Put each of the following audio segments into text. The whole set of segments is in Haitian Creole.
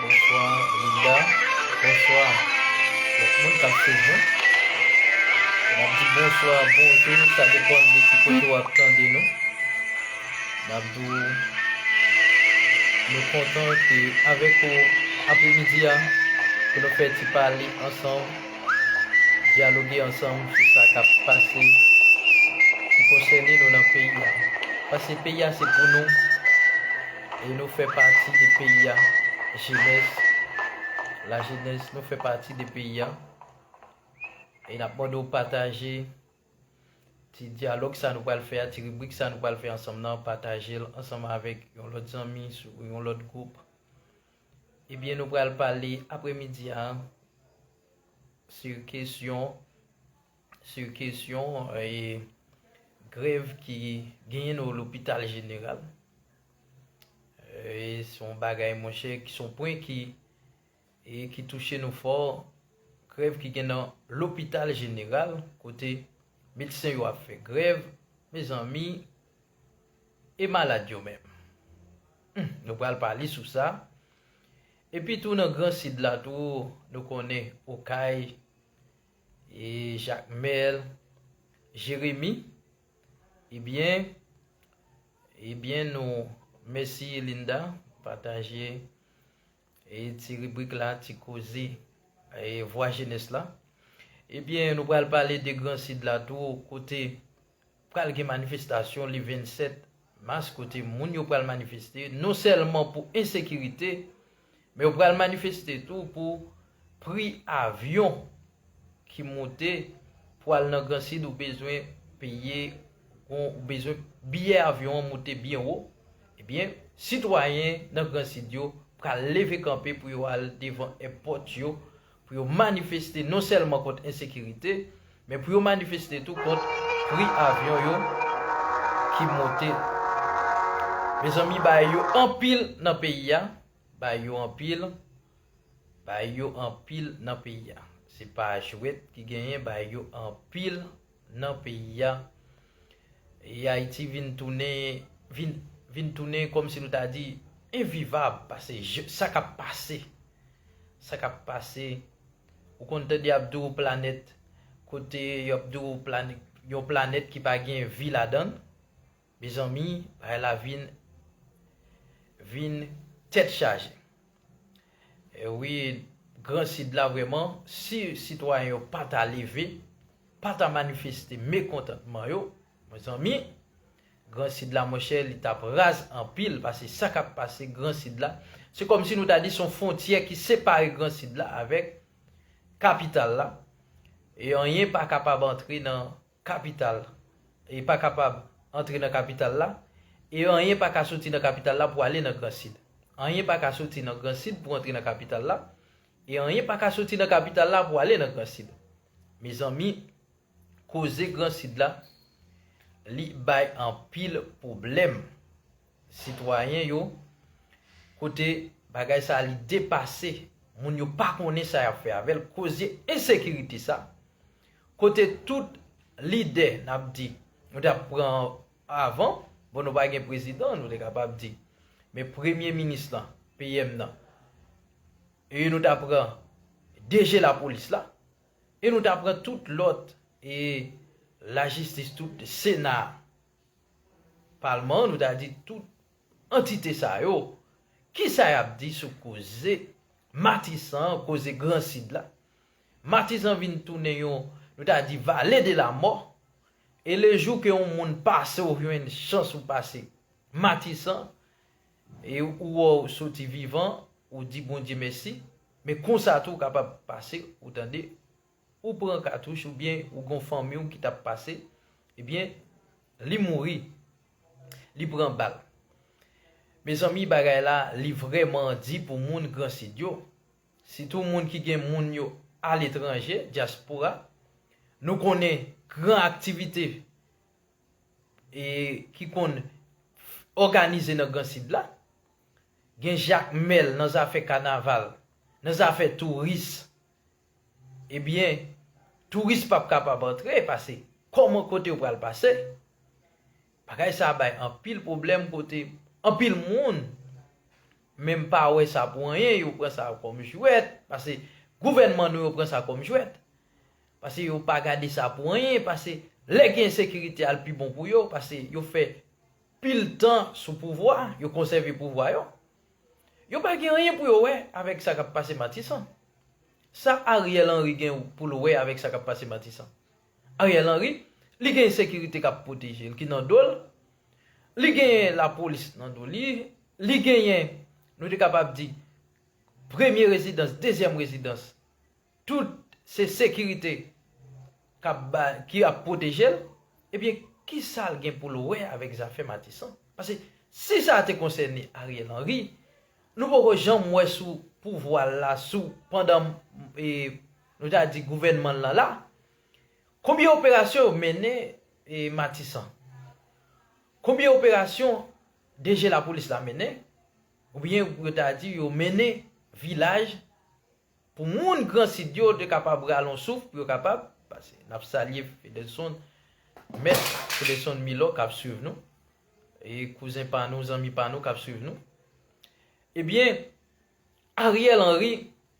Bonswa Linda bonswa lòt moun kap swiv nou nap di bonswa bonjou sa depan de ki kote wap tande nou nap di w nou kontan te avèk ou apremidi a pou nou fè ti pale ansanm dyaloge ansanm sou sa kap pase ki konsène nou nan peyi a paske peyi a se pou nou. E nou fè pati de peyi a jenès la jenès nou fè pati de peyi a e nap mande w pataje ti dyalòg sa nou pral fè a ti ribrik sa nou pral fè ansanm nan pataje l ansanm avèk yon lòt zanmi sou yon lòt gwoup ebyen nou pral pale apremidi a sou kesyon sou kesyon grèv ki genyen nan lopital jeneral. Se yon bagay monchè, se yon pwen ki touche nou fò. Grèv ki gen nan lopital jeneral kote medsen yo ap fè grèv. Mezanmi, e malad yo menm? Nou pral pale sou sa. Epi tou nan gran sid la tou, nou konnen Okay, E Jacmel Jeremi ebyen ebyen nou mèsi Linda pataje e ti ribrik la ti koze e vwa jenès la ebyen nou pral pale de gran sid la tou kote Pral gen manifestasyon le 27 mas kote moun yo pral manifeste non sèlman pou ensekirite, men yo pral manifeste tou pou pri avyon ki moute pou al nan gran sid ou bezwen peye yon ou bezwen biyè avyon an moute byen wo, ebyen sitwayen nan gran sid yo pral leve kanpe pou yo al devan èpòt yo pou yo manifeste non sèlman kont ensekirite, men pou yo manifeste tou kont pri avyon yo ki monte. Mezanmi bay yo anpil nan peyi a, bay yo anpil, bay yo anpil nan peyi a. Se pa jwèt ki genyen, bay yo anpil. nan peyi a e Ayiti vin tounen vin vin tounen kòm si nou ta di envivab pase je sa k ap pase sa k ap pase ou konn tande y ap di w planèt kote y ap di w planèt yon planèt ki pa gen vi ladan l Mezanmi bagay la vin vin tèt chaje wi gran sid la vrèman si sitwayen yo pa ta leve pa ta manifeste mekontantman yo mezanmi gran sid la monchè li tap raz anpil pase sa kap pase gran sid la se kòmsi nou ta di son fontyè ki separe gran sid la avèk kapital la e anyen pa kapab antre nan kapital, e pa kapab antre nan kapital la, e anyen pa ka soti nan kapital la pou ale nan Gran Sid. Anyen pa ka soti nan Gran Sid pou antre nan kapital la, e anyen pa ka soti nan kapital la pou ale nan Gran Sid. Mezanmi, koze Gran Sid la, li bay anpil pwoblèm sitwayen yo, kote bagay sa a li depase, moun yo pa konnen sa y ap fè avè l, koze ensekirite sa. Kote tout lide nap di nou tap pran avan bon nou pa gen prezidan nou te kapab di men premye minis lan PM nan e nou ta pran DG lapolis la e nou ta pran tout lòt e lajistis tout sena palman nou ta di tout antite sa yo kisa yap di sou koze matisan koze gran sid la. Matizan vin tounen yon, nou ta di vale de la mò, e le jou ke yon moun pase ou jwenn chans ou pase Matisan, e ou wè ou soti vivan, ou di Bondye mèsi, men konsa tou ou kapab pase, ou tande, ou pran katouch ou byen ou gon fanmi ou ki tap pase, e byen li mouri, li pran bal. Mezanmi bagay la li vrèman di pou moun Gransid yo. Sitou moun ki gen moun yo aletranje, dyaspora. Nou konnen gran aktivite ki konn òganize nan gran sid la. Gen jakmèl nan zafè kanaval, nan zafè touris. Ebyen, touris pap kapab antre pase kòman kote yo pral pase. Bagay sa bay anpil pwoblèm kote anpil moun. Men m pa wè sa pou anyen yo pran sa kòm jwèt, pase gouvènman nou yo pran sa kòm jwèt. Pase yo pa gade sa pou anyen, pase lè gen ensekirite al pi bon pou yo, pase yo fè pil tan sou pouvwa, yo konsève pouvwa yo. Yo pa gen anyen pou yo wè avèk sa k ap pase Matisan. Sa Ariel Henry gen pou l wè avèk sa k ap pase Matisan? Ariel Henry, li gen sekirite kap pwoteje l ki nan do l, li genyen lapolis nan do li, li genyen nou te kapab di premye rezidans, dezyèm rezidans, tout se sekirite kap ba ki ap pwoteje l, ebyen kisa l gen pou l wè avèk zafè Matisan? Pase si sa te konsène Ariel Henry, nou poko janm wè sou pouvwa l la sou pandan Nou ta di gouvènman l lan la. Konbyen operasyon yo mennen Matisan? Konbyen operasyon DG lapolis la mennen? Oubyen yo ta di yo mennen vilaj pou moun gran sid yo te kapab rale yon souf pou yo kapab pase. N ap salye Fedelson, mèt Fedelson Milò k ap swiv nou. E kouzen pa nou, zanmi pa nou k ap swiv nou. Ebyen, Ariel Henry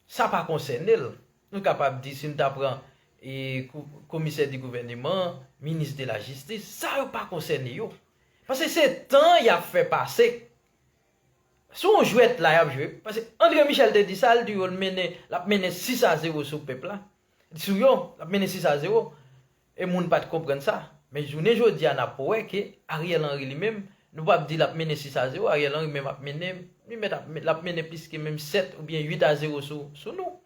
Sa pa konsène l. Nou kapab di si nou ta pran komisè di gouvèneman, minis de la jistis, sa yo pa konsène yo. Pase se tan y ap fè pase. Se yon jwèt la y ap jwe. Pase Andre Michel te di sa, l di yo l ap mennen 6 a 0 sou pèp la. Sou yo, l ap mennen 6 a 0. E moun pat konprann sa. Men jounen jodi a nap wè ke Ariel Henry li menm, nou pap di lap mennen 6 a 0, Ariel Henry menm ap mennen, li mèt ap, lap mennen plis ke menm 7 ou byen 8 a 0 sou, sou nou.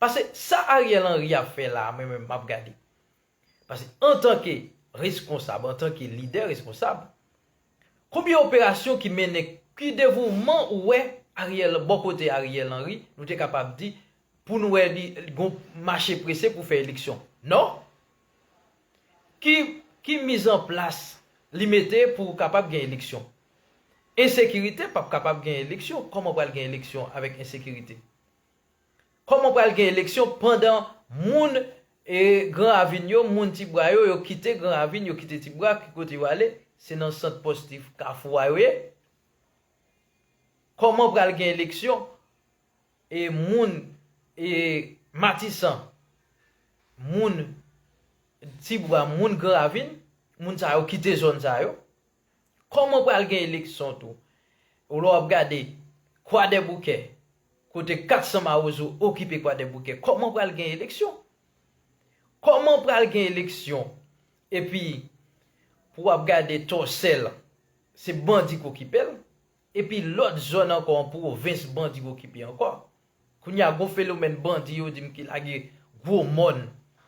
Pase sa Ariel Henry ap fè la a mwen menm map gade. Pase antan ke reskonsab, antan ke lidè reskonsab, konbyen operasyon ki mennen, ki devouvman ou wè Ariel, bò kote Ariel Henry, nou te kapab di, pou nou wè li gon mache prese pou fè eleksyon. Non. Ki ki miz an plas li mete pou kapab gen eleksyon? Ensekirite pap kapab gen eleksyon. Kòman pral gen eleksyon avèk ensekirite? Kòman pral gen eleksyon pandan moun e gran ravin yo, moun ti bwa yo, yo kite gran ravin, yo kite ti bwa, ki kote yo ale? Se nan sant pòstif kafou a yo ye? Kòman pral gen eleksyon e moun e matisan moun tibwa moun gran ravin moun sa yo kite zòn sa yo kòman pral gen eleksyon tou ou lè wap gade kwadèboukè kote 400 mawozo okipe kwadèboukè kòman pral gen eleksyon kòman pral gen eleksyon epi pou wap gade tòsèl se bandi ki okipel Epi lòt zòn ankò an pwovens bandi okipe ankò. Kounye a gon fenomèn bandi yo di m ki lage gwo mòn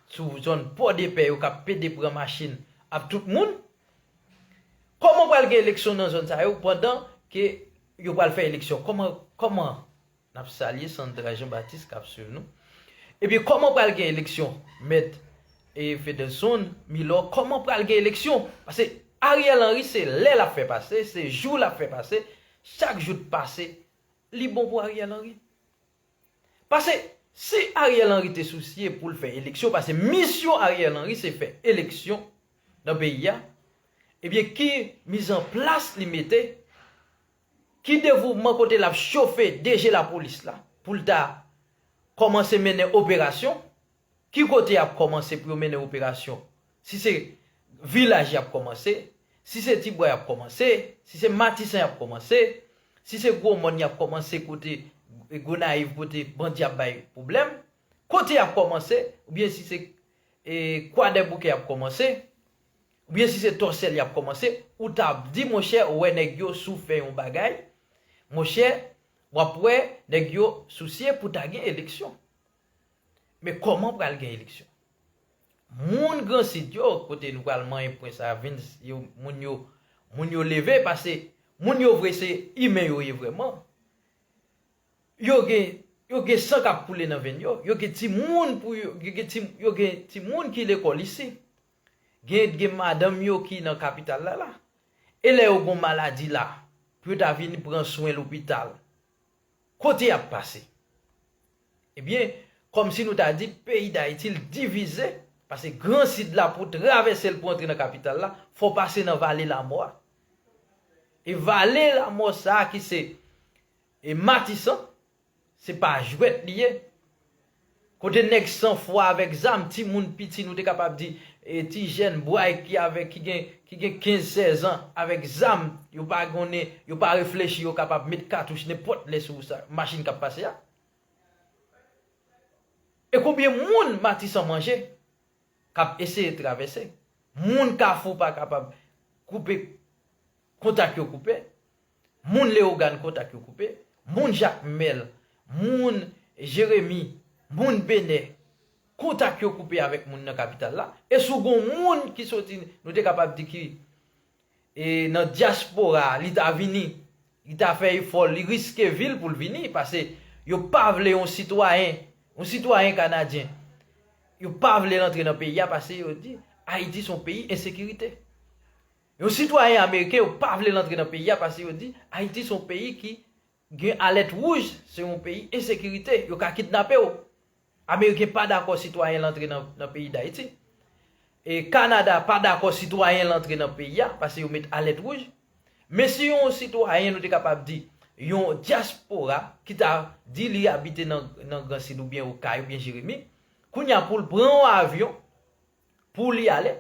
sou zòn Pòdepè yo k ap pede pran machin ap tout moun. Kòman pral gen eleksyon nan zòn sa yo pandan ke yo pral fè eleksyon? Kòman, kòman? Nap salye Sandra Jean Baptiste kap swiv nou. Ebyen koman pral gen eleksyon mèt e Fedelson Milor koman pral gen eleksyon pase Ariel Henry se lè lap fè pase se jou lap fè pase chak jou t pase li bon pou Ariel Henry pase si Ariel Henry te sousye poul fè eleksyon pase misyon Ariel Henry se fè eleksyon nan peyi a ebyen ki mizanplas li mete Ki devouvman kote l ap chofe DG Lapolis la pou l ta kòmanse mennen operasyon? Ki kote y ap kòmanse pou yo mennen operasyon? Si se Vilaj y ap kòmanse? Si se Tibwa y ap kòmanse? Si se Matisan y ap kòmanse? Si se Gwo Mòn y ap kòmanse kote Gonayiv kote bandi ap bay pwoblèm? Kote y ap kòmanse? Oubyen si se Kwadèboukè y ap kòmanse? Ou byen si se tòsèl yap kòmanse ou tap di monchè ou wè nèg yo sou fè yon bagay monchè wap wè nèg yo sousye pou ta gen eleksyon men kòman pral gen eleksyon moun gran sid yo kote nou pral manyen pwen sa vin yo moun yo moun yo leve pase moun yo vre se imen yo ye vrèman yo gen yo gen san kap koule nan venn yo yo gen ti moun pou yo gen ti yo gen ti moun ki lekòl isi Gen et gen madanm yo ki nan kapital la la. E lè yo gon maladi la pou yo ta vini pran swen lopital, kote yap pase? Ebyen, kòm si nou ta di peyi Dayiti l divize, pase gran sid la pou travèse l pou antre nan kapital la, fò pase nan vale lamò a. E vale lamò sa ki se E matisan se pa jwèt li ye. Kote nèg san fwa avèk zam, ti moun piti nou te kapab di e ti jèn bway ki avèk ki gen ki gen 15 16 ans avèk zam yo pa konnen yo pa reflechi yo kapab met katouch nenpòt lè sou sa machin kap pase a. E konbyen moun matisan manje kap eseye travèse. Moun kafou pa kapab koupe kontak yo koupe. Moun Leyogàn kontak yo koupe, moun Jakmèl, moun Jeremi, moun Benè, kontak yo koupe avèk moun nan kapital la, e si w gon moun ki soti nou te kapab di ki nan dyaspora a li ta vini, li ta fè efò, li riske vi l pou l vini, pase yo pa vle yon sitwayen, yon sitwayen kanadyen, yo pa vle l antre nan peyi a pase yo di Ayiti se yon peyi ensekirite. Yon sitwayen ameriken yo pa vle l antre nan peyi a pase yo di Ayiti se yon peyi ki gen alèt wouj, se yon peyi ensekirite, yo ka kidnape w. Ameriken pa dakò sitwayen l antre nan peyi Dayiti. E Kanada pa dakò sitwayen l antre nan peyi a pase yo met alèt wouj. Men si yon sitwayen nou te kapab di yon dyaspora ki ta di li abite nan Gran Sid oubyen Okay oubyen Jeremi, kounye a pou l pran yon avyon, Pou li ale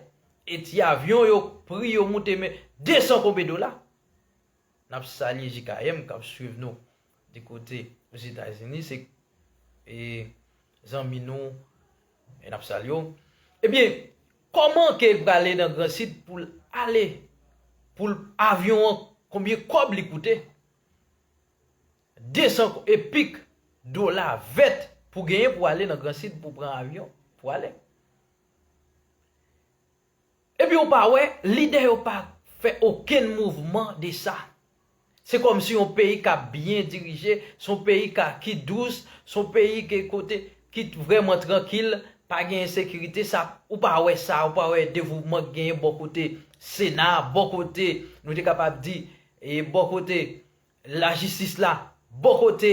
e ti avyon yo pri yo moute men 200 konbe dola. N ap salye JKM k ap swiv nou di kote Ozetazini se e zanmi nou e n ap salye w. Ebyen kòman ke l prale nan gran sid pou l ale pou l avyon an konbyen kòb li koute. 200 ko, e pik, dola vèt pou genyen pou ale nan gran sid pou pran avyon pou ale. Epi ou pa wè, lidè yo pa fè okenn mouvman de sa. Se kòm si yon peyi k ap byen dirije, se yon peyi ka ki dous, se yon peyi ke kote ki vrèman trankil, pa gen ensekirite sa, ou pa wè sa, ou pa wè devouvman k genyen bò kote sena, bò kote, nou te kapab di, e bò kote Lajistis la bò kote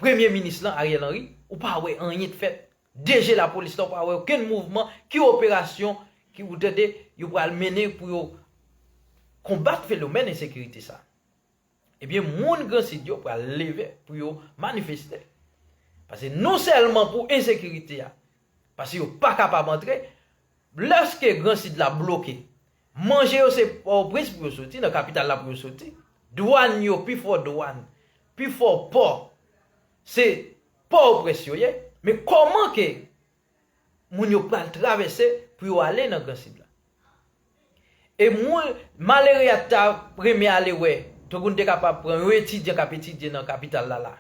Premye minis lan Ariel Henry, ou pa wè anyen k fèt. DG lapolis la ou pa wè okenn mouvman ki operasyon ki ou tande yo pral mennen pou yo konbat fenomèn ensekirite sa. Ebyen moun gran sid yo pral leve pou yo manifeste. Pase non sèlman pou ensekirite a, pase yo pa kapab antre, lèske gran sid la bloke Manje yo se Pòtoprens pou yo soti, nan kapital la pou yo soti. Dwàn yo, pi fò dwàn, pi fò pò, se Pòtoprens yo ye. Men kòman ke moun yo pral travèse pou yo ale nan Gran Sid la? E moun, malere a ta renmen ale wè, tankou nou te kapab pran yon etidyan k ap etidye nan kapital la la,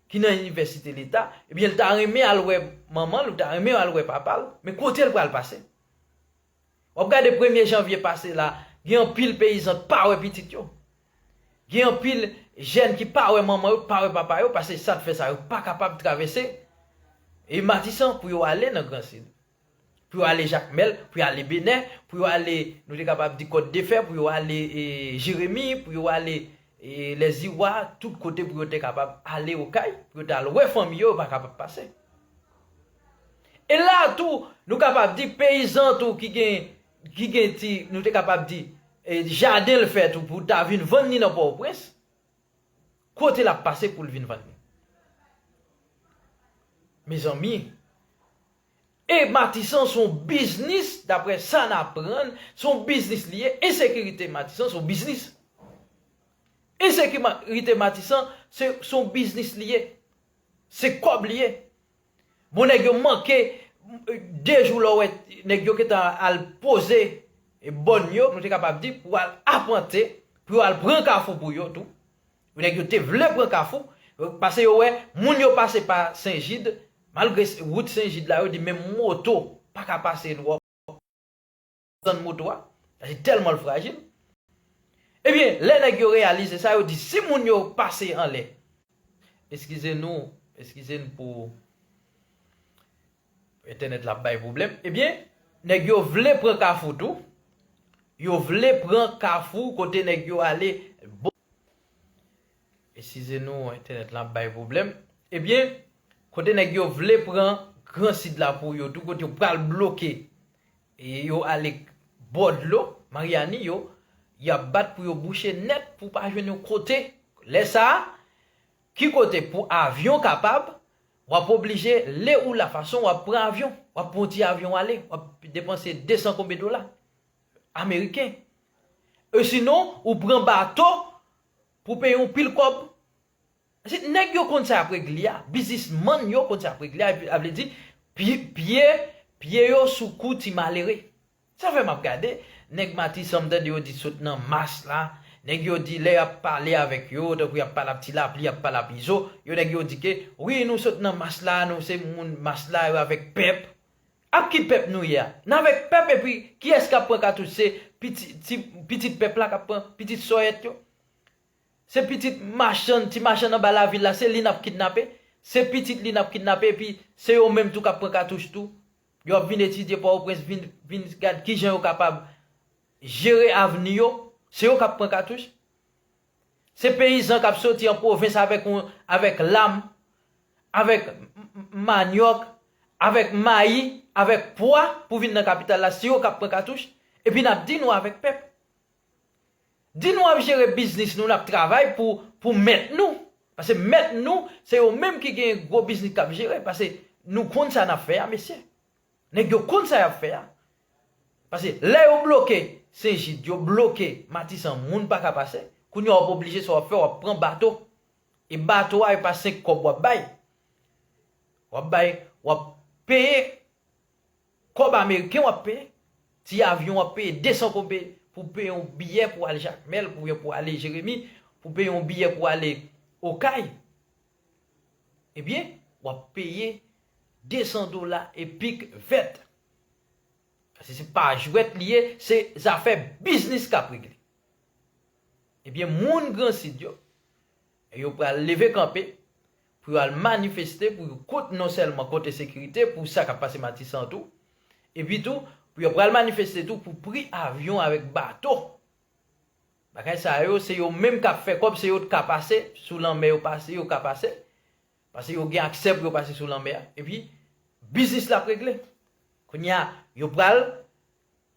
ki nan inivèsite Leta, ebyen l ta renmen al wè manman l, ou ta renmen al wè papa l, men kote l pral pase? Wap gade premye janvye pase la, gen anpil peyizan k pa wè pitit yo. Gen anpil jèn ki pa wè manman yo, k pa wè papa yo, pase sa k fè sa yo pa kapab travèse e Matisan pou yo ale nan gran sid. Pou yo ale Jakmèl, pou yo ale Benè, pou yo ale nou te kapab di Kòt de fè, pou yo ale e Jeremi, pou yo ale e Lèziwa, tout kote pou yo te kapab ale Okay, pou yo t al wè fanmi yo, yo pa kapab pase. E la a tou, nou kapab di peyizan tou ki gen, ki gen ti, nou te kapab di, e jaden l fè tou pou l ta vin vann li nan Pòtoprens, kote l ap pase pou l vin vann li? Mezanmi, e Matisan s on biznis, daprè sa n aprann, s on biznis li ye, ensekirite Matisan s on biznis. Ensekirite Matisan, se s on biznis li ye. Se kòb li ye. Bon nèg yo manke 2 jou lè w wè nèg yo gentan al poze bòn yo, nou te kapab di, pou al apante, pou yo al pran kafou pou yo tou. Nèg yo te vle pran kafou, pase yo wè moun yo pase pa Sen Jid, malgre wout Sen Jid la yo di menm moto pa ka pase l wòp. Patizan moto a, paske tèlman l frajil. Ebyen, lè nèg yo reyalize sa, yo di si moun yo pase anlè. Eskize nou, eskize n pou entènèt la ap bay pwoblèm. Ebyen, nèg yo vle pran kafou tou, yo vle pran kafou kote nèg yo ale. Eskize nou, entènèt la ap bay pwoblèm. Ebyen, kote nèg yo vle pran gran sid la pou yo tou, kote yo pral bloke Yo ale k bò dlo Maryani yo, y ap bat pou yo bouche nèt pou pa jwenn yon kote. Lè sa a, ki kote pou avyon kapab, w ap oblije le ou la fason w ap pran avyon. W ap pran yon ti avyon ale, w ap depanse 200 konbe dola ameriken. Osinon, ou pran bato pou peye yon pil kòb. Se nèg yo konn sa yap regle a, biznis mann yo konn sa yap regle a epi sa vle di pye pye yo sou kou ti malere. Sa fè map gade nèg matisan m tande yo di sot nan mas la, nèg yo di lè yap pale avèk yo tankou yap pale ap ti lapli yap pale ap izo, yo nèg yo di ke wi nou sot nan mas la nou se moun mas la yo avèk pèp. Ap ki pèp nou ye a? N avèk pèp epi kiyès kap pran katouch se pitit pèp la kap pran pitit sòyèt yo? Se pitit machann, ti machann anba lavil la, se li n ap kidnape, se pitit li n ap kidnape epi se yo menm tou k ap pran katouch tou. Yo ap vin etidye Pòtoprens, vin vin gad ki jan yo kapab jere avni yo, se yo k ap pran katouch. Se peyizan k ap soti an pwovens avèk yon avèk lam, avèk manyòk, avèk mayi, avèk pwa pou vin nan kapital la, se yo k ap pran katouch epi n ap di nou avèk pèp. Di nou ap jere biznis nou nap travay pou pou mèt nou pase mèt nou se yo menm ki gen gwo biznis kap jere pase nou konn sa nap fè a mesye nèg yo konn sa yap fè a pase lè yo bloke senjid yo bloke matisan moun paka pase kounya wap oblije sa wap fè wap pran bato e bato a epa 5 kòb wap bay wap bay wap peye Kòb ameriken wap peye, ti avyon wap peye 200 kobe pou peye yon biyè pou al Jakmèl oubyen pou ale Jeremi, pou peye yon biyè pou ale Okay, ebyen wap peye 200 dola epik vèt. Pase se pa jwèt li ye, se zafè biznis kap regle. Ebyen moun Gran Sid yo, yo pral leve kanpe pou yo al manifeste pou yo kont non sèlman kont ensekirite pou sa kap pase Matisan an tou epi tou pou yo pral manifeste tou pou pri avyon avèk bato bagay sa yo se yo menm kap fè kòb se yo t ka pase sou lanmè yo pase yo ka pase pase yo gen aksè pou yo pase sou lanmè a epi biznis la ap regle kounya yo pral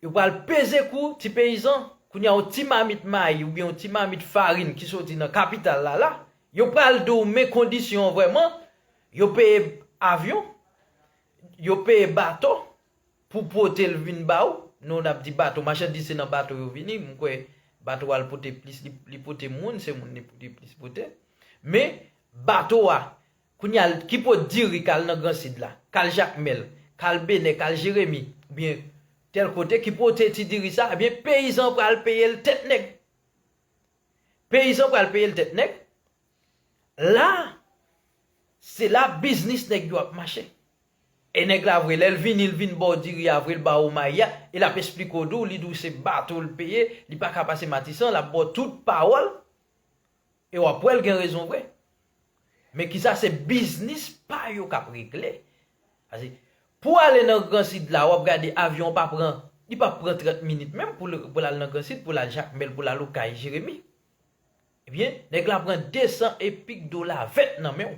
Yo pral peze kou ti peyizan, kounye a yon ti mamit mayi oubyen yon ti mamit farin ki soti nan kapital la la, yo pral di w men kondisyon an vrèman, yo peye avyon, yo peye bato pou pote l vin ba ou, nou n ap di bato, machandiz se nan bato yo vini, m kwè bato a l pote plis, li pote moun, se moun li pote plis pote, men bato a Kounya l ki pot diri kal nan gran sid la, kal jakmèl, kal benè, kal jeremi, oubyen tèl kote ki pote ti diri sa, ebyen peyizan an pral peye l tèt nèg. Peyizan an pral peye l tèt nèg, la se la biznis nèg yo ap mache. E nèg la vre lè l vini l vin ba w diri a vre l ba ou mayi a, e l ap esplike w di w li di w se bato l peye, li pa ka pase matisan, l ap ba w tout pawòl. E wap wèl gen rezon vre. Men kisa se biznis pa yo kap regle. Pase pou ale nan gran sid la wap gade avyon pa pran li pa pran 30 minit menm pou lal nan gran sid pou lal jakmèl pou lal okay jeremi. Ebyen nèg la pran 200 epik dola vèt nan menw.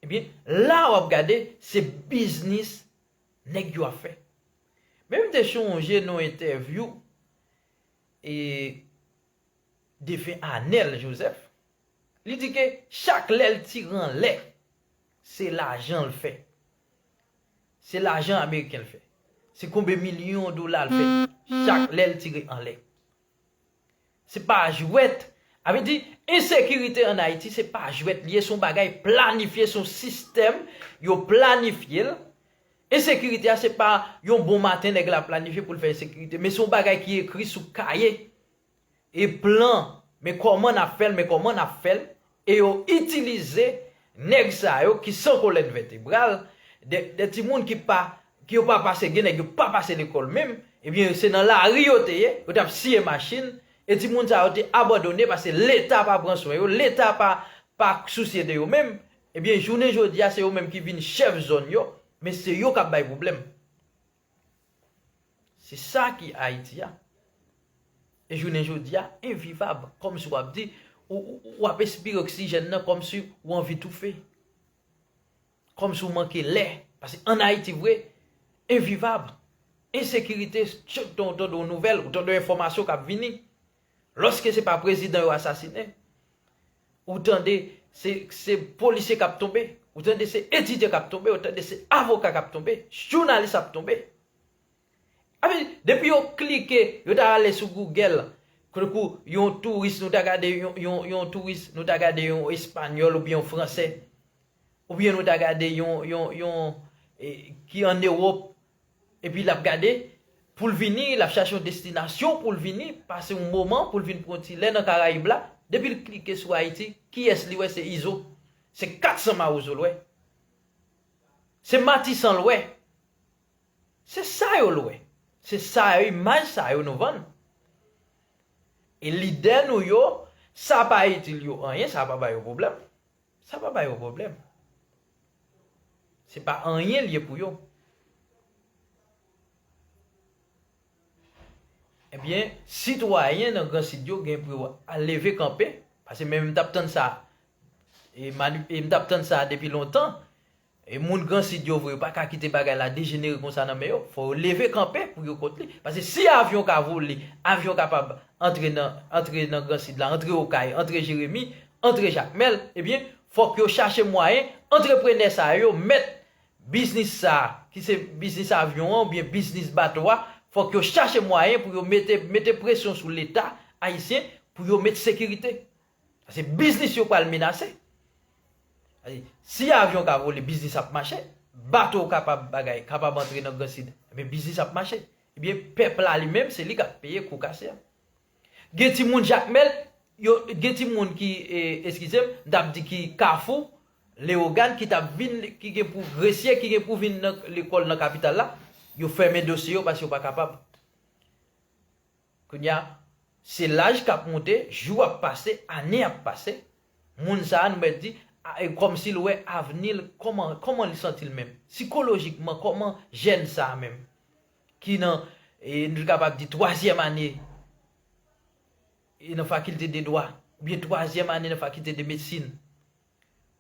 Ebyen la wap gade se biznis nèg yo ap fè. Men mte chonje nan entèvyou. e defen Anel Joseph, li di ke chak lè l tire anlè, se lajan l fè. Se lajan ameriken l fè. Se konbe milyon dola l fè chak lè l tire anlè. Se pa jwèt, a vle di, ensekirite an Ayiti se pa jwèt li ye, se yon bagay planifye, se yon sistèm yo planifye l. Ensekirite a se pa yon bon maten nèg la planifye pou l fè ensekirite men se yon bagay ki ekri sou kaye e plan men kòman n ap fè l men kòman n ap fè l e yo itilize nèg sa yo ki san kolèn vètebral de timoun ki pa ki yo pa pase gen nèg yo pa pase lekòl menm ebyen se nan lari yo te ye yo t ap siye machin e timoun sa yo te abandone paske leta pa pran swen yo leta pa pa sousye de yo menm Ebyen jounen jodia se yo menm ki vin chèf zòn yo, men se yo kap bay pwoblèm. Se sa ki Ayiti a. E jounen jodia envivab kòm si wap di wap espire oksijèn nan kòm si ou anvi toufe. Kòm si ou manke lè. Pase an Ayiti vre envivab. Ensekirite chak tan ou tande yon nouvèl, ou tande yon enfòmasyon kap vini. Loske se pa prezidan yo asasinen, ou tande se polisye kap tonbe, ou tande se etidyan kap tonbe, ou tande se avoka kap tonbe, jounalis ap tonbe. Ape depi yo klike, yo ta ale sou Google, koudekou yon touris nou ta gade yon touris, nou ta gade yon espanyòl oubyen yon fransè, oubyen nou ta gade yon ki an Ewòp, Epi l ap gade pou l vini, l ap chache yon destinasyon pou l vini, pase yon moman, pou l vin pran yon ti lè nan Karayib la. Depi l klike sou Ayiti, kiyès li wè? Se Izo. Se 400 mawozo l wè. Se Matisan l wè. Se sa yo l wè. Se sa yo, imaj sa yo nou vann. E lidè nou yo, sa pa itil yo anyen, sa pa ba yo pwoblèm. Sa pa bay yo pwoblèm. Se pa anyen l ye pou yo. Ebyen, sitwayen nan gran sid yo gen pou yo leve kanpe, pase men m t ap tann sa, e m t ap tann sa depi lontan, E moun gran sid yo vre yo paka kite bagay la dejenere konsa nan men yo, fò yo leve kanpe pou yo kont li, paske si avyon ka vole, avyon kapab antre nan antre nan gran sid la, antre okay, antre jeremi, antre jakmèl, ebyen fòk yo chache mwayen antreprenè sa yo mèt biznis sa ki se biznis avyon an oubyen biznis bato a fòk yo chache mwayen pou yo mete mete presyon sou leta ayisyen pou yo met sekirite. Pase biznis yo pral menase. Si avyon ka vole, biznis ap mache. Bato kapab bagay, kapab antre nan gran sid. Ebyen biznis ap mache. Ebyen pèp la li menm, se li kap peye kou kase a. Gen ti moun jakmèl, gen ti moun ki, eskizem, m tap di ki kafou, leogàn ki tap vin, ki gen pou gresye, ki gen pou vin nan lekòl nan kapital la, yo fèmen dosye yo pase yo pa kapab. Kounye a, se laj k ap moute, jou ap pase, ane ap pase, moun sa a nou mèt di, a e kòm si l wè avni l, kòman, kòman li santi l menm? Sikolojikman, kòman jèn sa a menm, ki nan, e nou te kapab di twazyèm ane e nan fakilte de dwa, oubyen twazyèm ane nan fakilte de medsin,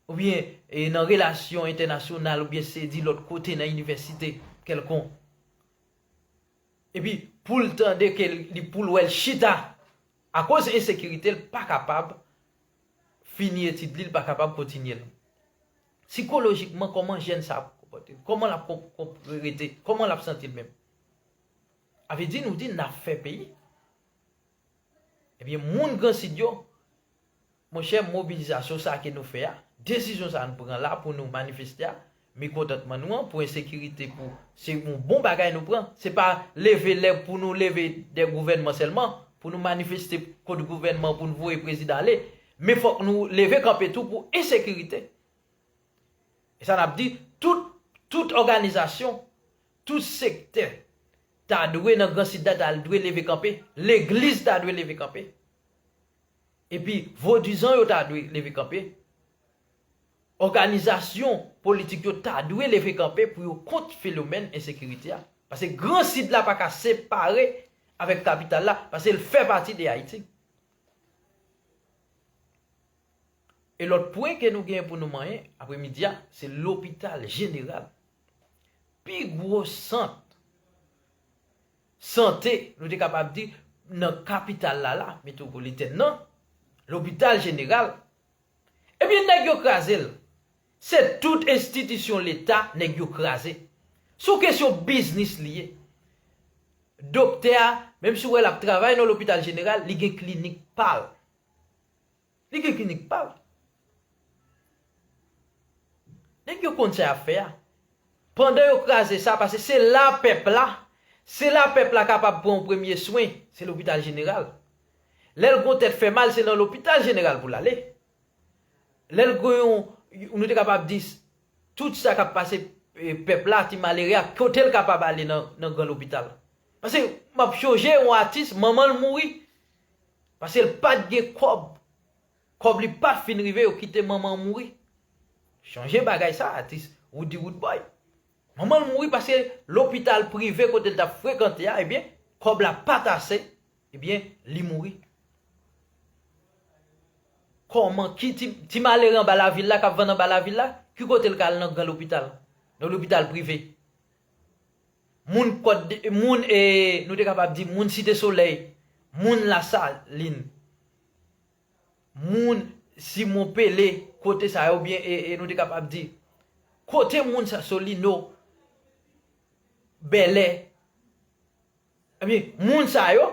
oubyen e nan relasyon entènasyonal oubyen se di lòt kote nan inivèsite kèlkonk. Epi poul tande ke li poul wèl chita akoz ensekirite l pa kapab fini etid li, li pa kapab kontinye l. Sikolojikman kòman jèn sa ap konpòte l? Kòman lap rete? Kòman lap santi l menm? Avle di nou di nap fè peyi? Ebyen moun gransid yo Monchè mobilizasyon sa ke nou fè a, desizyon sa nou pran la pou nou manifeste a, mekontantman nou an pou ensekirite pou se yon bon bagay nou pran, se pa leve lè pou nou leve dè gouvènman sèlman, pou nou manifeste kont gouvènman pou nou voye prezidan ale, men fòk nou leve kanpe tou pou ensekirite. E sa nap di, tout tout òganizasyon, tout sektè ta dwe nan gran sid la ta dwe leve kanpe, legliz ta dwe leve kanpe. Epi vodizan yo ta dwe leve kanpe, òganizasyon politik yo ta dwe leve kanpe pou yo kont felomèn ensekirite a. Pase gran sid la pa ka separe avèk kapital la, pase l fè pati de Ayiti. E lòt pwen ke nou gen pou nou manyen apre midi a, se lopital jeneral. Pi gwo sant Sante, nou te kapab di, nan kapital la la, metwopolitèn nan, lopital jeneral, ebyen nèg yo kraze l. Se tout enstitisyon leta nèg yo kraze. Se yon kesyon biznis li ye. Doktè a, menm si w wè l ap travay nan lopital jeneral, li gen klinik pa l. Li gen klinik pal. Nèg yo konn sa yap fè a. Pandan yo kraze sa pase se la pèp la, se la pèp la kapab pran yon premye swen, se lopital jeneral. Lè l gon tèt fè mal se nan lopital jeneral pou l ale. Lè l gen yon, nou te kapab di tout sa kap pase pèp la, ti malere a kote l kapab ale nan gran lopital. Pase map chonje yon atis manman l mouri. Paske l pat gen kòb. Kòb li pat fin rive yo kite manman an mouri. Chanje bagay sa atis Roody Roodboy. Manman l mouri paske lopital prive kote l tap frekante a ebyen kòb la pat ase ebyen li mouri. Kòman ki ti malere anba lavil la kap vann anba lavil la ki kote l ka al nan gran lopital? Nan lopital prive. moun kòt de moun e nou te kapab di moun site solèy moun lasalin moun simon pele kote sa yo oubyen e nou te kapab di kote moun sa solino bèlè Ebyen, moun sa yo,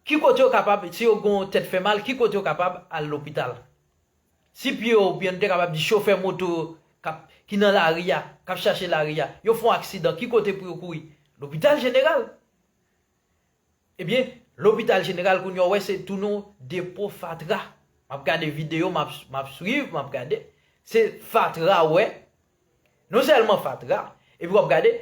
ki kote yo kapab, si yo gon tèt fè mal, ki kote yo kapab al lopital? Si pye yo, oubyen nou te kapab di chofè moto yo k ap, ki nan lari a, k ap chache lari a, yo fè yon aksidan, ki kote pou yo kouri? Lopital jeneral. Ebyen, lopital jeneral kounye a ou wè se tounen yon depo fatra. M ap gade videyo, m ap, m ap swiv, m ap gade. Se fatra ou wè. Non sèlman fatra, epi w ap gade,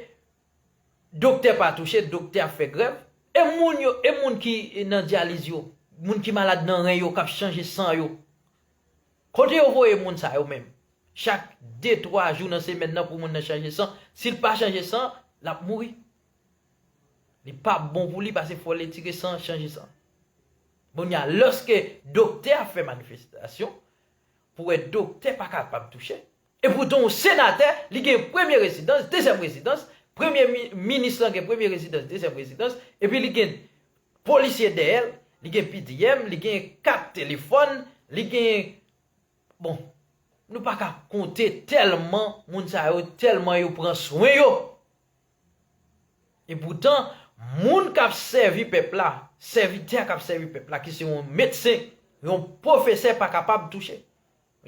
Doktè pa touche, doktè ap fè grèv. E moun yo, e moun ki nan dyaliz yo, moun ki malad nan ren yo, k ap chanje san yo? Kote yo voye moun sa yo menm? Chak de, twa jou nan semèn nan pou moun nan chanje san, si l pa chanje san, l ap mouri. Li pa bon pou li pase fò l etire san, chanje san. Kounye a, lòske doktè ap fè manifestasyon, pou wè doktè pa kapab touche, E poutan yon senatè, li gen premye rezidans, dezyèm rezidans, premye minis lan gen premye rezidans, dezyèm rezidans, epi li gen polisye dèyè l, li gen PDM, li gen kat telefòn, li gen, bon, nou pa ka konte tèlman moun sa yo, tèlman yo pran swen yo. E poutan, moun k ap sèvi pèp la, sèvitè k ap sèvi pèp la ki se yon medsen, yon pwofesè pa kapab touche.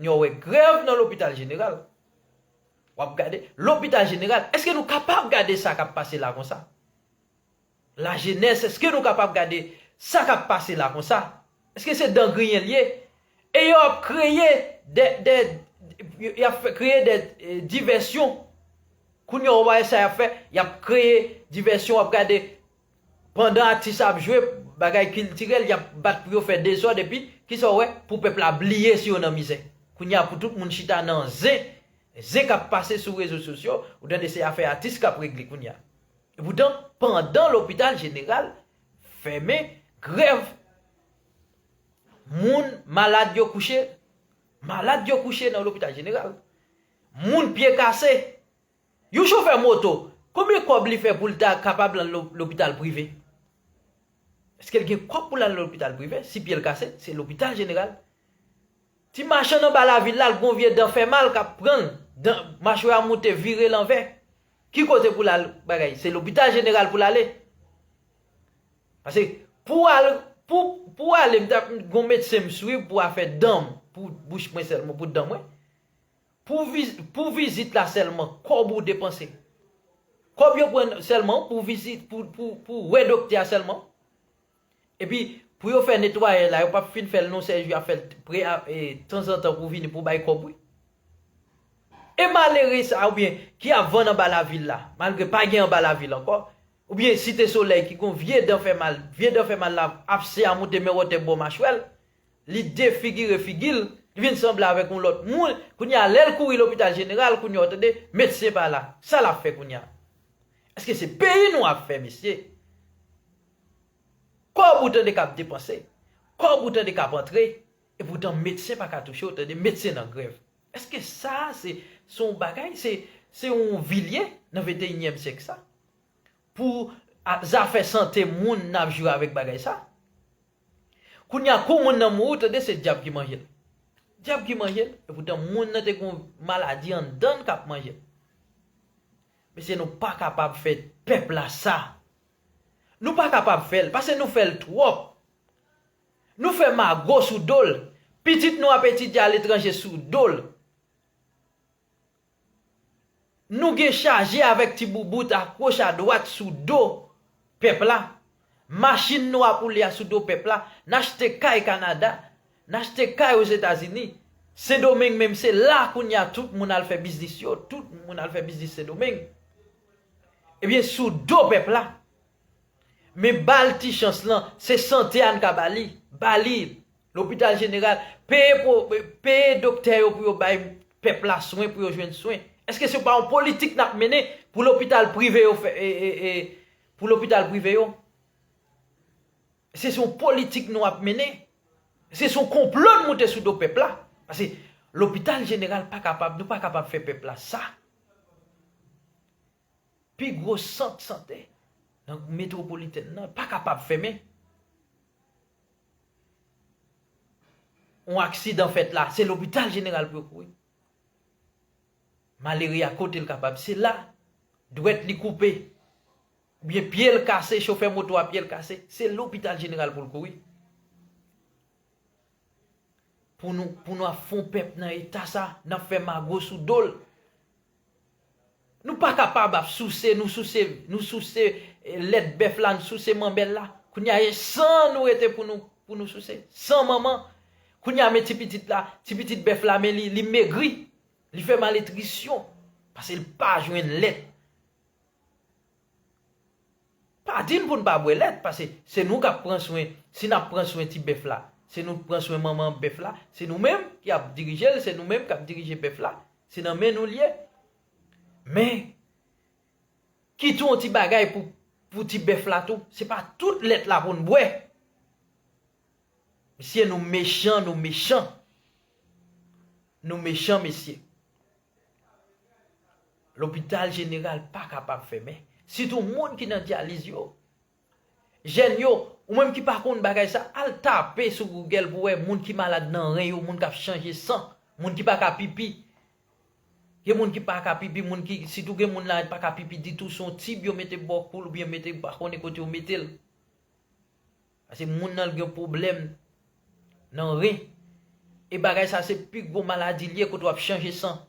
Nyo wè grèv nan lopital jeneral. Wap gade lopital jeneral. Eske nou kapab gade sa kap pase la konsa? La jenès eske nou kapab gade sa kap pase la konsa? Eske se dan griyen li ye? E yo ap kreye de, de, yap fè kreye de divèsyon. Kounye w wè sa yap fè, yap kreye divèsyon wap gade. Pandan atis ap jwe bagay kiltirèl yap bat pou yo fè dezòd epi kisa w wè pou pèp la bliye si yo nan mizè kounye a pou tout moun chita nan zen zen kap pase sou rezo sosyo ou tande se afè atis kap regle kounye a epoutan pandan lopital jeneral fèmen grèv moun malad yo kouche malad yo kouche nan lopital jeneral moun pye kase. Yon chofè moto, konbyen kòb li fè pou l ta kapab lan lopital prive? Eske l gen kòb pou l al lopital prive? Si pye l kase, se lopital jeneral. Ti machann anba lavil la, l gen yon vye dan fè mal k ap pran l, dan, machwè a moute, vire lanvè. Ki kote pou l al bagay? Se lopital jeneral pou l ale. Pase, pou w al, pou, pou w ale, m ta, gen yon medsen m swiv pou afè dan m, pou bouch mwen sèlman, pou dan mwen. Pou vizit la sèlman kòb ou depanse. Kòb yo pran sèlman pou vizit pou wè doktè a sèlman. Epi pou yo fè netwayè la yo pap fin fèl non sèj yo ap fèl tanzantan pou vini pou bay kòb wi. E malere sa ou byen ki ap vann anba lavil la malgre pa gen anba lavil ankò ou byen site solèy ki gon vye dan fè mal vye dan fè mal la ap se a moute men wòtè bò machwèl Li defigire figi l, li vin sanble avèk yon lòt moun, kounye a lè l kouri lopital jeneral, kounye a w tande, medsen pa la. Sa l ap fè kounye a? Èske se peyi nou ap fè mesye? Kòb ou tande k ap depanse, kòb ou tande k ap antre, epoutan medsen pa ka touche w tande, medsen nan grèv. Èske sa a se yon bagay, se yon vi l ye nan venteyinyèm syèk sa? Pou zafè sante moun n ap jwe avèk bagay sa? Kounya kou moun nan mouri ou tande se dyab ki manje l. Dyab ki manje l? Epoutan moun nan te gen yon maladi anndan l kap manje l. Mesye nou pa kapab fè pèp la sa. Nou pa kapab fè l pase nou fè l twòp. Nou fè mago sou do l. Pitit nou ap etidye aletranje sou do l. Nou gen chaje avèk ti boubout a goch a dwat sou do pèp la, machin nou ap woule a sou do pèp la, n achte kay Kanada, n achte kay Ozetazini, Sendomeng menm se la kounye a tout moun al fè biznis yo, tout moun al fè biznis Sendomeng. Ebyen sou do pèp la. Men ba l ti chans lan, se sante a n ka ba li, ba li l. Lopital jeneral, peye pou, peye doktè yo pou yo bay pèp la swen pou yo jwenn swen. Eske se pa yon politik nap mennen pou lopital prive yo fè, pou lopital prive yo? Se se yon politik nou ap mennen? Se se yon konplo nou moute sou do pèp la? Pase lopital jeneral pa kapab, nou pa kapab fè pèp la sa. Pi gwo sant sante nan metwopolitèn nan pa kapab fèmen. On aksidan fèt la, se lopital jeneral pou yo kouri. Malere a kote l kapab, se la. Dwèt li koupe, oubyen pye l kase, chofè moto a pye l kase, se lopital jeneral pou l kouri. Pou nou ap fon pèp nan eta sa, n ap fè mago sou do l. Nou pa kapab ap souse, nou souse, nou souse lèt bèf la, nou souse manbèl la. Kounye a e san nou rete pou nou, pou nou souse. San manman. Kounye a men ti pitit la, ti pitit bèf la men li, li megri. Li fè malnitrisyon. Pase li pa jwenn lèt. Pa di n pou n pa bwè lèt, pase se nou k ap pran swen, si n ap pran swen ti bèf la, se nou k pran swen manman bèf la, se nou menm ki ap dirije l, se nou menm k ap dirije bèf la, se nan men nou l ye. Men, ki tou yon ti bagay pou ti bèf la tou, se pa tout lèt la pou n bwè. Mesye nou mechan, nou mechan. Nou mechan mesye. Lopital jeneral pa kapab fèmen. Sitou moun ki nan dyaliz yo. Jèn yo, ou menm ki pa konn bagay sa, al tape sou Google pou wè moun ki malad nan ren yo, moun k ap chanje san, moun ki pa ka pipi. Gen moun ki pa ka pipi, moun ki, sitou gen moun la ki pa ka pipi ditou, se yon tib yo mete bò kou l oubyen mete pa konnen kote yo mete l. Pase moun nan gen pwoblèm nan ren. E bagay sa se pi gwo maladi li ye kote w ap chanje san.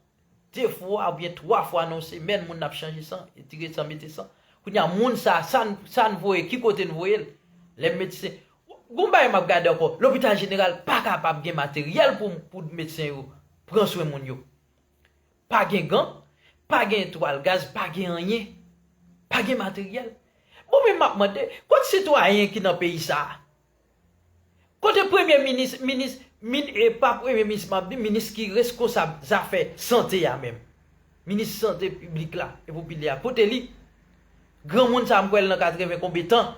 De fwa oubyen twa fwa nan yon semèn moun nan ap chanje san, etire san, mete san. Kounye a moun sa, sa n voye, ki kote n voye l? Lè medsen, gon bagay m ap gade ankò, lopital jeneral pa kapab gen materyèl pou medsen yo pran swen moun yo. Pa gen gan, pa gen twal gaz, pa gen anyen. Pa gen materyèl. Bon men map mande, kot sitwayen ki nan peyi sa a? Kote premye minis, minis, min e pa premye minis map di, minis ki reskonsab zafè sante a menm? Minis sante piblik la e popilè a, kote li? Granmoun sa a m kwè l nan 80 konbe tan.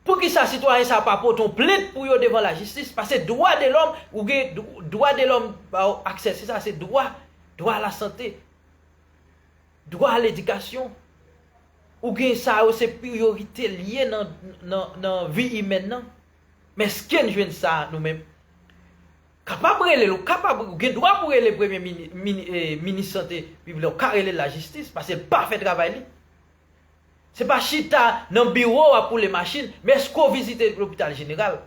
Poukisa sitwayen sa pa pote yon plent pou yo devan la jistis pase dwa de lòm ou gen dwa de lòm ba ou aksè se sa se dwa dwa a la sante dwa a ledikasyon ou gen sa yo se priyorite li ye nan nan nan vi imèn nan men eske'n jwenn sa nou menm kapab rele l ou kapab ou gen dwa pou rele premye mini mini minis sante piblè ou ka rele l la jistis pase l pa fè travay li Se pa chita nan biwo w ap woule machin, men èske w vizite lopital jeneral?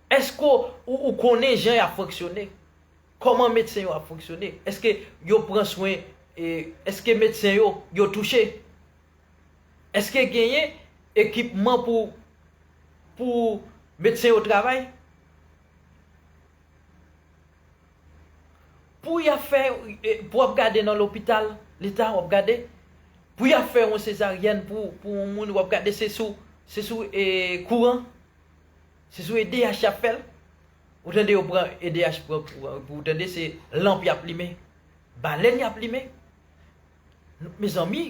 Èske ou konnen jan y ap fonksyone? Kòman medsen yo ap fonksyone? Èske yo pran swen, èske medsen yo, yo touche? Èske genyen ekipman pou medsen yo travay? Pou ya fè pou wap gade nan lopital leta wap gade pou ya fè yon sezaryèn pou pou yon moun wap gade se sou se sou e kouran se sou edh yap fèl ou tande yo pran edh pran kouran pou ou tande se lanp yap limen balèn yap limen mezanmi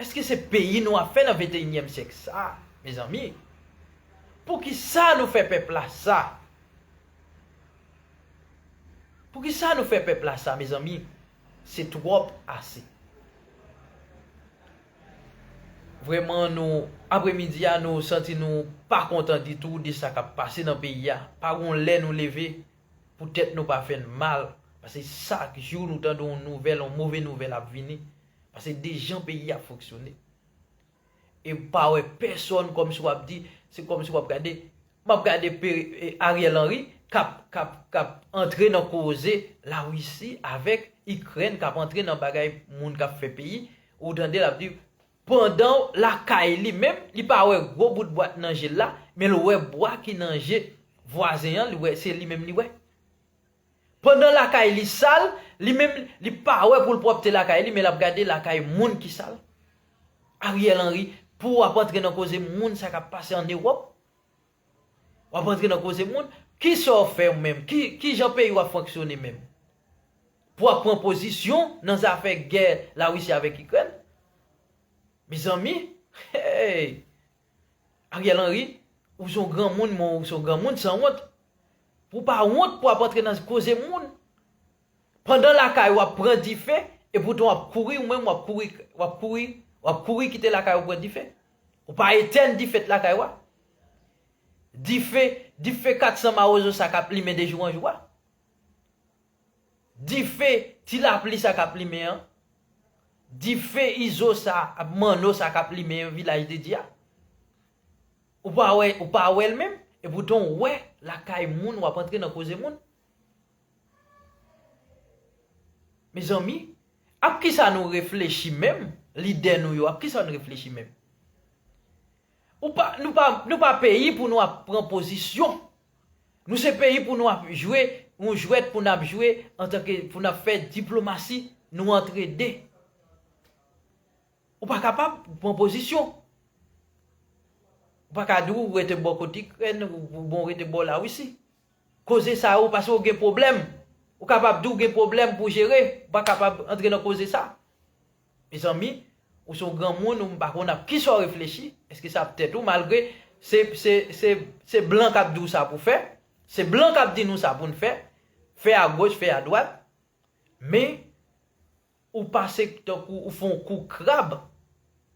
eske se peyi nou ap fè nan venteyinyèm syèk sa mezanmi poukisa nou fè pèp la sa. Poukisa nou fè pèp la sa mezanmi se twòp ase. Vrèman nou apre midi a nou santi nou pa kontan ditou de sa kap pase nan peyi a pa gon lè nou leve pou tèt nou pa fèn mal pase chak jou nou tande yon nouvèl yon move nouvèl ap vini pase de jan peyi a foksyone. E ou pa wè pèsòn kòmsi w ap di, se kòmsi w ap gade, m ap gade Ariel Henry k ap, k ap, k ap antre nan koze Lawisi avèk Ikrèn, k ap antre nan bagay moun k ap fè peyi, ou tande l ap di, pandan lakay li menm, li pa wè gwo bout bwa k nan je l la, men l wè bwa ki nan je vwazen an, li wè, se li menm li wè. Pandan lakay li sal, li menm li pa wè pou l pwòpte lakay li men l ap gade lakay moun ki sal. Ariel Henry, pou w ap antre nan koze moun sa k ap pase an Ewòp? W ap antre nan koze moun? Ki sa w fè menm? Ki jan peyi w ap fonksyone menm? Pou w ap pran pozisyon nan zafè gè Lawisi avèk Ikrèn? Mezanmi! Hey! Ariel Henry ou son granmoun m'en ou son granmoun sanwont pou pa wont pou ap antre nan koze moun pandan lakay ou ap pran dife epoutan wap kouri ou menm wap kouri wap kouri wap kouri kite lakay ou pran dife ou pa etèn dife t lakay ou a dife dife 400 mawozo sa kap limen de jou an jou a. Dife ti lapli sa kap limen an, dife izo sa ak manno sa kap limen an vilaj de Dye a. Ou pa wè, ou pa wè l menm, e poutan w wè lakay moun wap antre nan koze moun. Mezanmi, ap kisa nou reflechi menm, lidè nou yo ap kisa nou reflechi menm? Ou pa, nou pa, nou pa peyi pou nou ap pran pozisyon Nou se peyi pou nou ap jwe yon jwèt pou nap jwe antanke pou nap fè diplomasi nou antre de ou pa kapab pran pozisyon ou pa ka di ou rete bò kot ikrèn ou bon rete bò lawisi koze sa yo pase ou gen pwoblèm ou kapab di ou gen pwoblèm pou jere ou pa kapab antre nan koze sa. Mezanmi ou son granmoun ou m pa konn ap kisa w reflechi eske sa ap tèt ou malgre se blan kap di w sa pou fè se blan kap di nou sa pou n fè fè a goch fè a dwat men ou pase tankou ou fon kou krab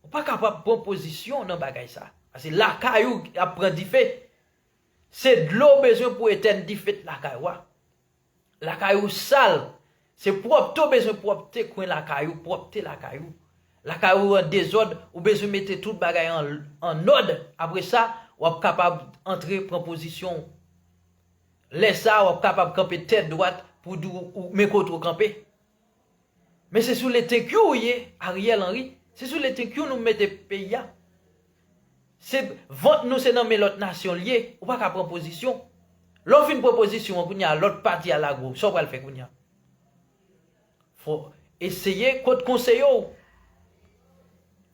ou pa kapab pran pozisyon nan bagay sa pase lakay ou ap pran dife se dlo w bezwen pou etèn dife t lakay ou a. Lakay ou sal, se pwòpte ou bezwen pwòpte kwen lakay ou, pwòpte lakay ou. Lakay ou an dezòd, ou bezwen mete tout bagay an nòd, apre sa, w ap kapab antre pran pozisyon ou. Lè sa a, w ap kapab kanpe tèt dwat pou w di w men kote w kanpe. Men se sou letenkyou ou ye Ariel Henry, se sou letenkyou nou mete peyi a. Se vant nou se nan men lòt nasyon li ye, ou pa ka pran pozisyon. Lè ou fin pran pozisyon an kounye a lòt pati a lage w, sa w pral fè kounye a? Fò w eseye kot konseye yo.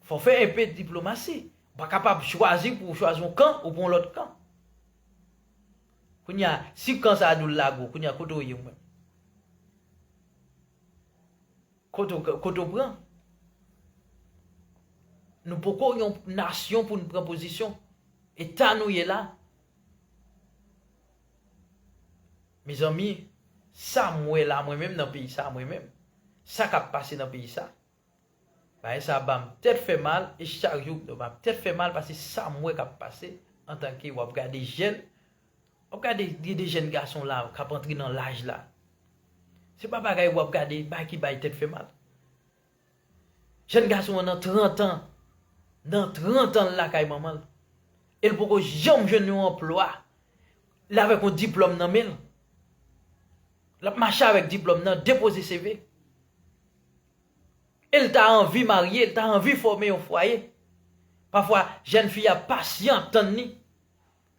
Fò w fè enpe diplomasi. Ou pa kapab chwazi pou ou chwazi yon kan ou pran lòt kan. Kounye a, si kan sa a di w lage w, kounye a kote ou ye ou menm? Kote w pran? Nou poko yon nasyon pou n pran pozisyon. Eta nou ye la. Mezanmi, sa m wè la mwen menm nan peyi sa mwen menm, sa k ap pase nan peyi sa, Bagay sa banm tèt fè mal e chak jou mdo map tèt fè mal pase sam wè kap pase antanke wap gade jèn wap gade gen de jèn gason la kap antre nan laj la se pa bagay wap gade bagay ki bay tèt fè mal jèn gason an nan 30 an nan 30 anl lakay manmanl el poko janm jwenn yon anplwa li avèk yon diplòm nan menl lap mache avèk diplòm nan depoze seve E l ta anvi marye, l ta anvi fòme yon fwaye. Pafwa, jèn fi a pasyan tann ni.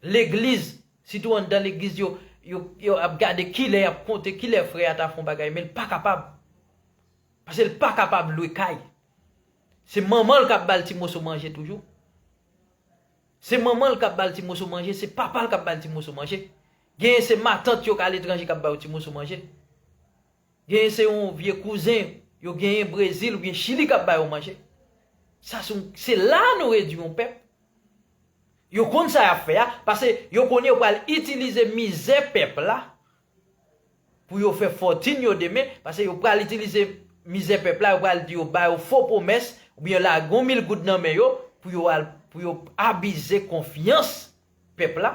Legliz, sitou anndan legliz yo, yo ap gade kilè y ap konte, kilè frè a ta fè yon bagay, men l pa kapab. Pase l pa kapab lwe kay. Se manman l k ap ba l ti moso manje toujou. Se manman l k ap ba l ti moso manje, se papa l k ap ba l ti moso manje. Genyen se matant yo k a letranje k ap ba yo ti moso manje. Genyen se yon vye kouzen yo genyen Brezil oubyen Chili k ap ba yo manje. Sa se yon, se la nou redui yon pèp. Yo konn sa y ap fè a, pase yo konnen yo pral itilize mizè pèp la pou yo fè fòtin yo demen, pase yo pral itilize mizè pèp la, yo pral di yo ba yo fo pwomès oubyen lage yon mil goud nan men yo pou yo al, pou yo abize konfyans. pèp la,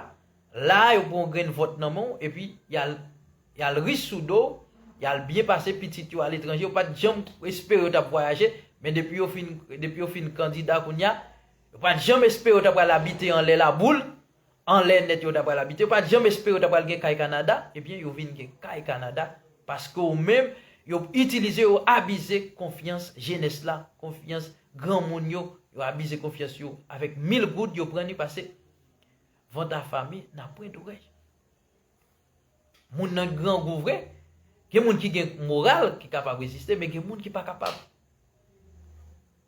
la a yo pran yon grenn vòt nan men w epi yal yal ri sou do w, yal byen pase pitit yo aletranje yo pat janm espere yo tap vwayaje, men depi yo fin depi yo fin kandida kounye a, yo pat janm espere yo ta pral abite anlè laboul, anlè nèt yo ta pral abite, yo pat janm espere yo ta pral gen kay Kanada, ebyen yo vin gen kay Kanada paske w menm yo itilize yo abize konfyans jenès la, konfyans Granmoun yo, yo abize konfyans yo avèk mil goud yo pran ni pase vant afame nan pwent orèy. Moun nan grangou vre, gen moun ki gen moral ki kapab reziste men gen moun ki pa kapab.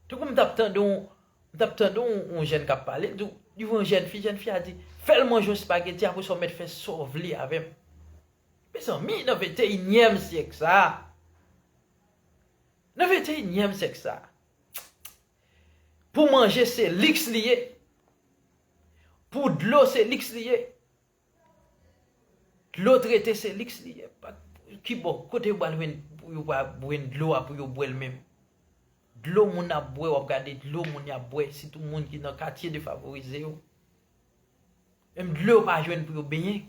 Tankou m t ap tande yon m t ap tande yon jèn k ap pale, l di w, li wè yon jèn fi, jèn fi a di, fè l manje yon spageti apre sa w mèt fè sa w vle avè m. Mezanmi nan venteynyèm syèk sa a! Nan venteyinyèm syèk sa a, pou manje se liks li ye, pou dlo se liks li ye, dlo trete se liks li ye, ki bo kote yo pral jwenn pou yo pa jwenn dlo a pou yo bwè l menm? Dlo moun ap bwè, wap gade dlo moun yap bwè, sitou moun ki nan katye defavorize yo, menm dlo yo pa jwenn pou yo benyen.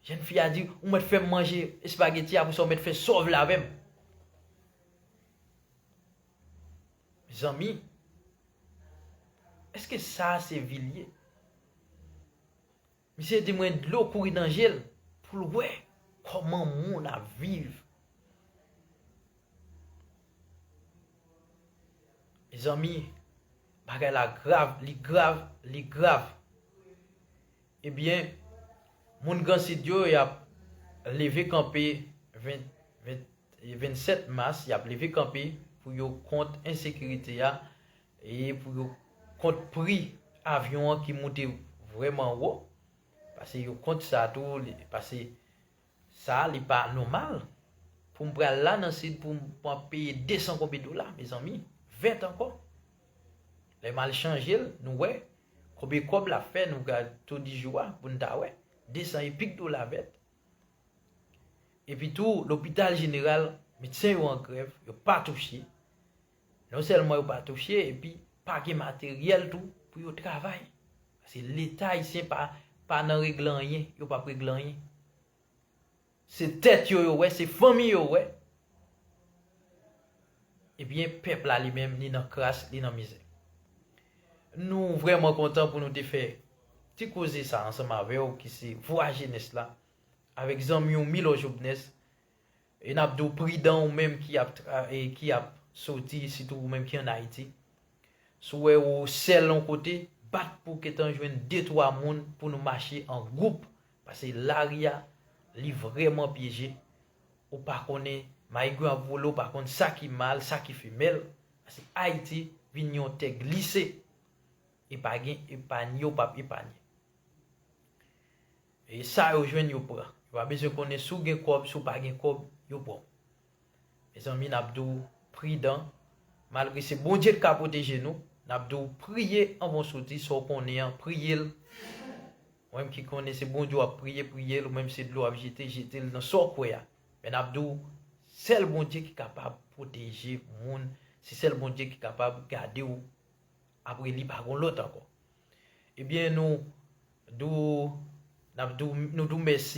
Jèn fi a di, ou mèt fè m manje espageti apre sa ou mèt fè sov la avè m. Mezanmi, eske sa a se vi l ye? Misye di mwen dlo kouri nan je l pou l wè kòman moun ap viv. Mezanmi, bagay la grav, li grav, li grav. Ebyen Moun gran sid yo yap leve kanpe 27 mas yap leve kanpe pou yo kont ensekirite a e pou yo kont pri avyon an ki moute vrèman wo pase yo kont sa tou pase Sa li pa nomal pou m pral la nan sid pou m ap peye 200 konbe dola mezanmi vèt ankò lè m al chanje l nou wè konbe kòb l ap fè nou gad to di jou a pou n ta wè 200 epik dola vèt epi tou lopital jeneral medsen yo an grèv yo pa touche. Non sèlman yo pa touche epi pa gen materyèl tou pou yo travay. Paske leta ayisyen pa pa nan regle anyen, yo pap regle anyen. Se tèt yo yo wè, se fanmi yo wè. Ebyen pèp la li menm li nan kras, li nan mizè. Nou vrèman kontan pou nou te fè ti koze sa ansanm avè w ki se vwa jenès la avèk zanmi w Milò Jobnès E nap diw pridan ou menm ki ap ki ap soti sitou ou menm ki an ayiti si w wè ou sèl on kote bat pou ketan jwenn de twa moun pou nou mache an gwoup pase lari a li vrèman pyeje ou pa konnen maigwen ap vole ou pa konn sa ki mal sa ki femèl pase ayiti vin yon tè glise e pa gen epanye ou pap epanye. E sa yo jwenn yo pran. Yo pa bezwen konnen si w gen kòb, si w pa gen kòb, yo pran w. Mezanmi n ap di w pridan, malgre se Bondye ki ka pwoteje nou, n ap di w priye anvan w soti sa w konnen an, priye l. Ou menm ki konnen se Bondye w ap priye, priye l, ou menm se dlo w ap jete, jete l nan sa w kwè a. Men n ap di w, sèl Bondye ki kapab pwoteje moun, se sèl Bondye ki kapab gade w, apre li pa gen lòt ankò. Ebyen nou do nou do mèsi.